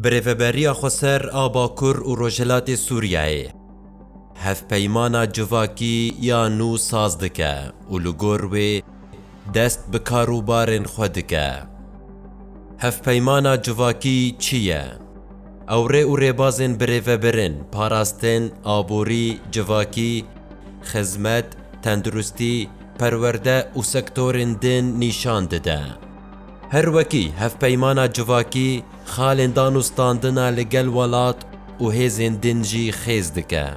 Bi rêveberiya xweser a Bakur û Rojhilatê Sûriyeyê hevpeymana civakî ya nû saz dike û li gor wê dest bi karûbarên xwe dike. Hevpeymana civakî çi ye? Ew rê û rêbazên bi rêvebirin, parastin, aborî, civakî, xizmet, tenduristî, perwerde û sektorên din nîşan dide. Her wekî hevpeymana civakî xalên dan û standina li gel welat û hêzên din jî xêz dike.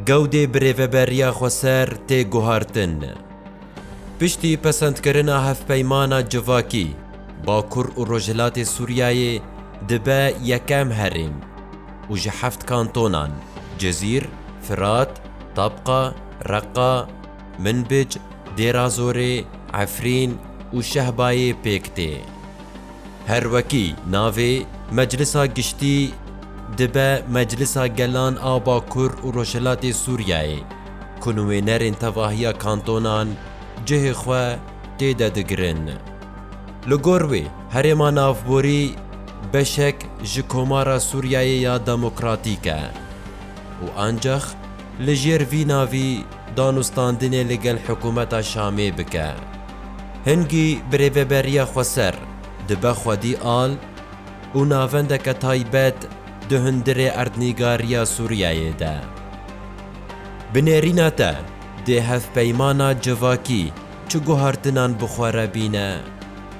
Gewdê bi rêveberiya xweser tê guhartin. Piştî pesendkirina hevpeymana civakî, Bakur û Rojhilatê Sûriyeyê dibe yekem herêm û ji heft kantonan, Cizîr, Firat, Tabqa, Reqqa, Minbic, Dêrazorê, Efrîn û Şehbayê pêk tê. Her wekî navê Meclisa Giştî dibe Meclisa Gelan a Bakur û Rojhilatê Sûriyeyê ku nuênerên tevahiya kantonan cihê xwe tê de digirin. Li gor wê herêma navborî beşek ji Komara Sûriyeyê ya Demokratîk e û ancax li jêr vî navî, danûstandinê li gel hikûmeta Şamê bike. Hingî bi rêveberiya xweser dibe xwedî al û navendeke taybet di hundirê erdnîgariya Sûriyeyê de. Bi nêrîna te dê hevpeymana civakî çi guhartinan bi xwe re bîne,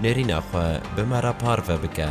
nêrîna xwe bi me re parve bike.